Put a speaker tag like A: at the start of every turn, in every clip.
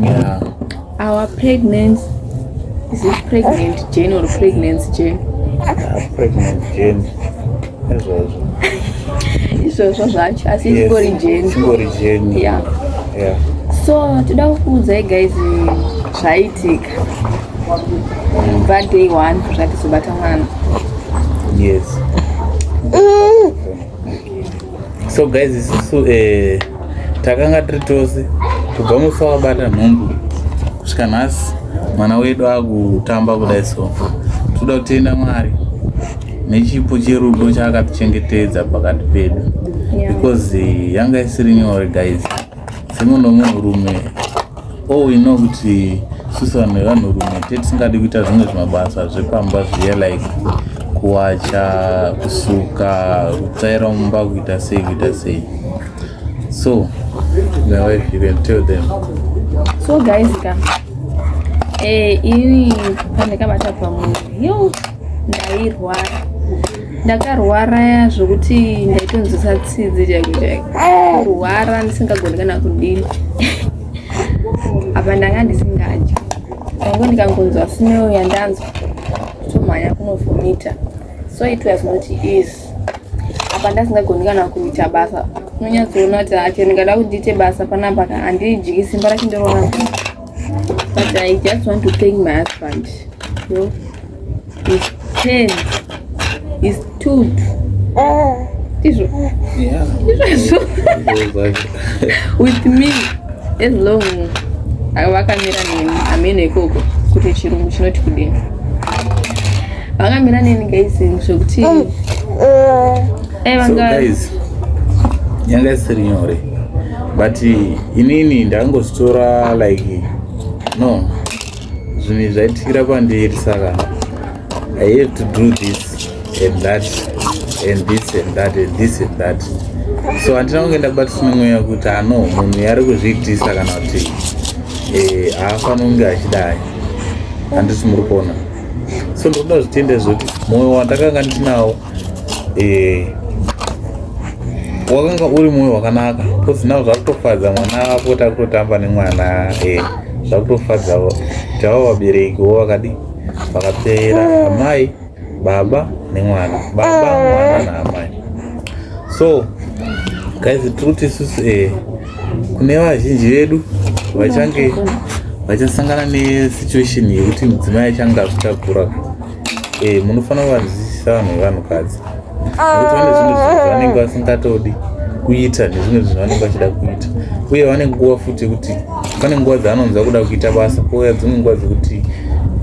A: yeah. our pregnancy is it pregnant jane or pregnancy jane ah, pregnant jane izvozvo izvozvo zvacho asi ingori jeni ingori jeni ya so toda kukuudzai guys zvaitika kubva day one zvatisobata mwana yes mm. so guys isusu eh, takanga tiri tose kubva musi wabata nhumbu kusvika nhasi mwana wedu akutamba kudai so toda kutenda mwari nechipo cherudo chaakatichengetedza pakati pedu because eh, yanga isiri nyore guys dzimwe nomunhurume all we know kuti susa vanhu vevanhurume te tisingadi kuita zvimwe zvimabasa zvepamba zviye like kuwacha kusuka kutsvaira mumba kuita sei kuita sei so my wife you can tell them so guys ka eh, ini pandakabata pamwe yo ndairwara ndakarwara zvokuti ndaitonzwisa tsidzi chaiko chaiko kurwara ndisingagoni kana kudini apa ndanga ndisingadyi tango ndikangonzwa smell yandanzwa tomhanya kunovhomita so it was not easy apa ndasingagoni kana kuita basa unonyatsoona kuti hacho ndingada kuti ndiite basa panapa ka handidyiki simba racho ndoroona But I just want to thank my husband. You know, his pen, his tooth. This one. Yeah. This one. With me, as long vakamira neni ameno ikoko kuti chirungu chinoti kudini vakamira neni guys zvekuti mm. eh, yanga isiri nyore but inini ndangozvitora like no zvinhu izvi zvaitikira pandiri saka i have to do this and that and this and that and this and that so handina kunge ndabatisina mweya kuti ano ah, munhu yari kuzviitisa kana kuti eh, haafani kunge achidai handisi muri kuona so ndokuda zvitende zvekuti mwoyo wandakanga ndinawo eh wakanga uri mwoyo wakanaka because now zvakutofadza mwana wako takutotamba nemwana eh zvakutofadza tava vabereki wo vakadi vakapera amai baba nemwana baba mwana naamai so guys tiri kuti isusu eh kune vazhinji vedu vachange vachasangana nesituation yekuti mudzimai achange azvitakura eh munofanira kuvadzidzisa vanhu vevanhukadzi nekuti vane zvimwe zvinhu zvavanenge vasingatodi kuita nezvimwe zvinhu vanenge vachida kuita uye vane nguva futi yekuti pane nguva dzaanonzwa kuda kuita basa kouya dzimwe nguva dzekuti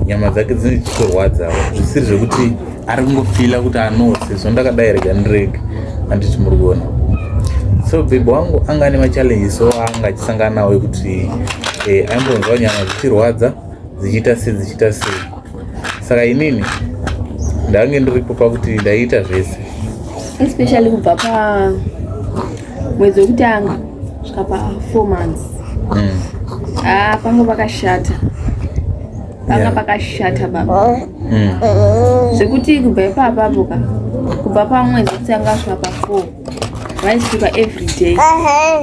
A: nyama dzake dzine chitorwadzawo zvisiri zvekuti ari kungofila kuti anose so ndakadai rega ndirege anditi muri kuona so bhebhi wangu anga ane machallenges o anga achisangana nawo ekuti eh, aimbonzwa nyama dzichirwadza dzichiita sei dzichiita sei saka inini ndange ndiripo pakuti ndaiita zvese especially kubva pa mwedzi wekutanga svika pa four months mm. ah, panga pakashata panga yeah. pakashata baba mm. zvekuti kubva ipapapo ka kubva pamwedzi wekutanga svika pa four vaisuka everyday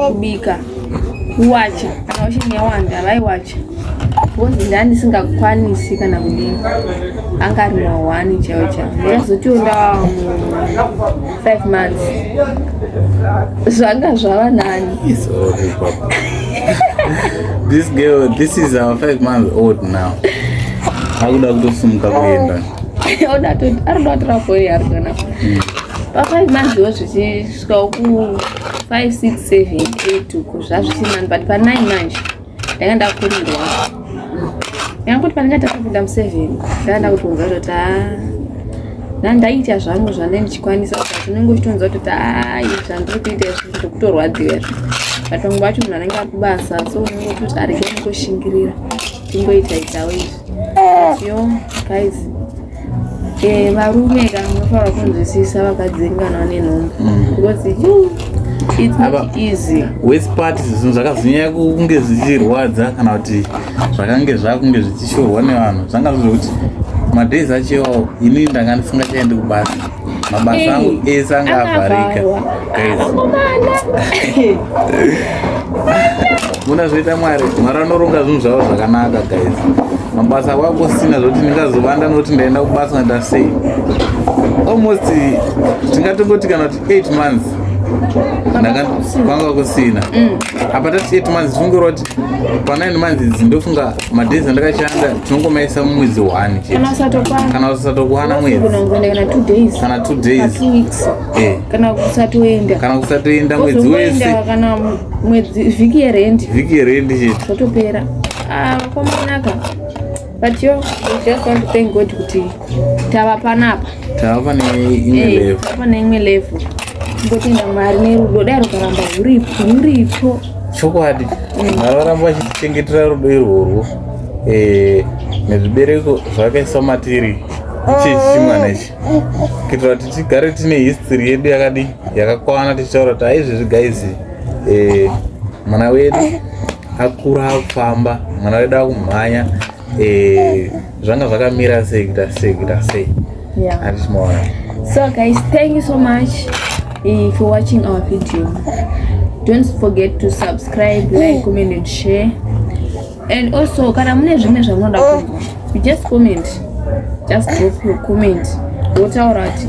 A: kubika kuwacha kana washing yawanda vaiwacha bhozi ndaa ndisingakwanisi kana kudini anga ari mahwani chaiwo chavo ndakazotiwo ndava five months zvanga zvava nani this girl this is our five months old now akuda kutosumuka kuenda oda toti ari kuda kutora foni yari kana pafive months wo zvichisvikawo ku five six seven eight uko zvazvisinani but panine manje ndanga ndakurirwa nyanga kuti pandinga takapinda museven ndanga ndakutonzwa kutoti a nda ndaiita zvangu zvandai ndichikwanisa zvinenge uchitonzwa kutoti ai zvandiri kuita izvi zvekutorwadziwa izvi but vamwe vacho munhu anenge akubasa so unenge utoti arege kungoshingira tingoita itawo izvi yo guys Eh, varume kana munofanira kunzwisisa vakadzinganwa nenhombo mm. because you it's not easy waste part zvinhu zvakazonyanya kunge zvichirwadza kana kuti zvakange zvakunge zvichishorwa nevanhu zvanga zviri kuti madays acho iwawo ini ndanga ndisingachaendi kubasa mabasa angu ese anga avharika muna zvoita mwari mwari anoronga zvinhu zvavo zvakanaka guys mabasa kwako sina zvokuti ndingazovanda nokuti ndaenda kubasa ngaita sei almost tingatongoti kana kuti eight months kwanga kusina mm. apa tati eight months fungira kuti panine months idzi ndofunga madhezi andakashanda tinongomaisa mumwedzi one kana usatokwana mwedzi kana two days eh. kana kusatoenda kana kusatoenda mwedzi wese kana mwedzi vhiki yerendi vhiki yerendi chete zvotopera ah, kwamanaka but yo just want to thank god kuti tava panapa tava pane imwe eh, level tava pane imwe level ngotenda mwari nerudo dai rukaramba ruripo ruripo chokwadi mm. mwari varamba vachitichengetera rudo irworwo eh, nezvibereko zvakaiswa matiri chechimwana ichi kuitira kuti tigare tine history yedu yakadi yakakwana tichitaura kuti aizvezvi guys eh, mwana wedu akura akufamba mwana wedu akumhanya eh, zvanga zvakamira sei kuita sei kuita sei andismaona so guys thank you so much eh, for watching our video don't forget to subscribe like mm. comment and share and also kana mune zvimwe zvamunoda kunzwa you just comment just drop your comment wotaura kuti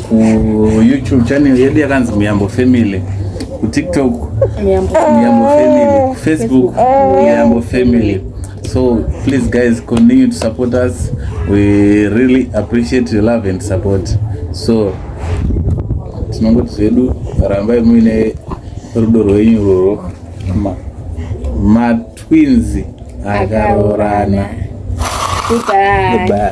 A: kuyoutube channel yedu yakanzi muyambo family kutiktok muyambo family kufacebook muyambo family so please guys continue to support us we really appreciate your love and support so tinongoti zvedu rambai muine rudo rwenyu rworo matwinzi akaroorana goodbye, goodbye.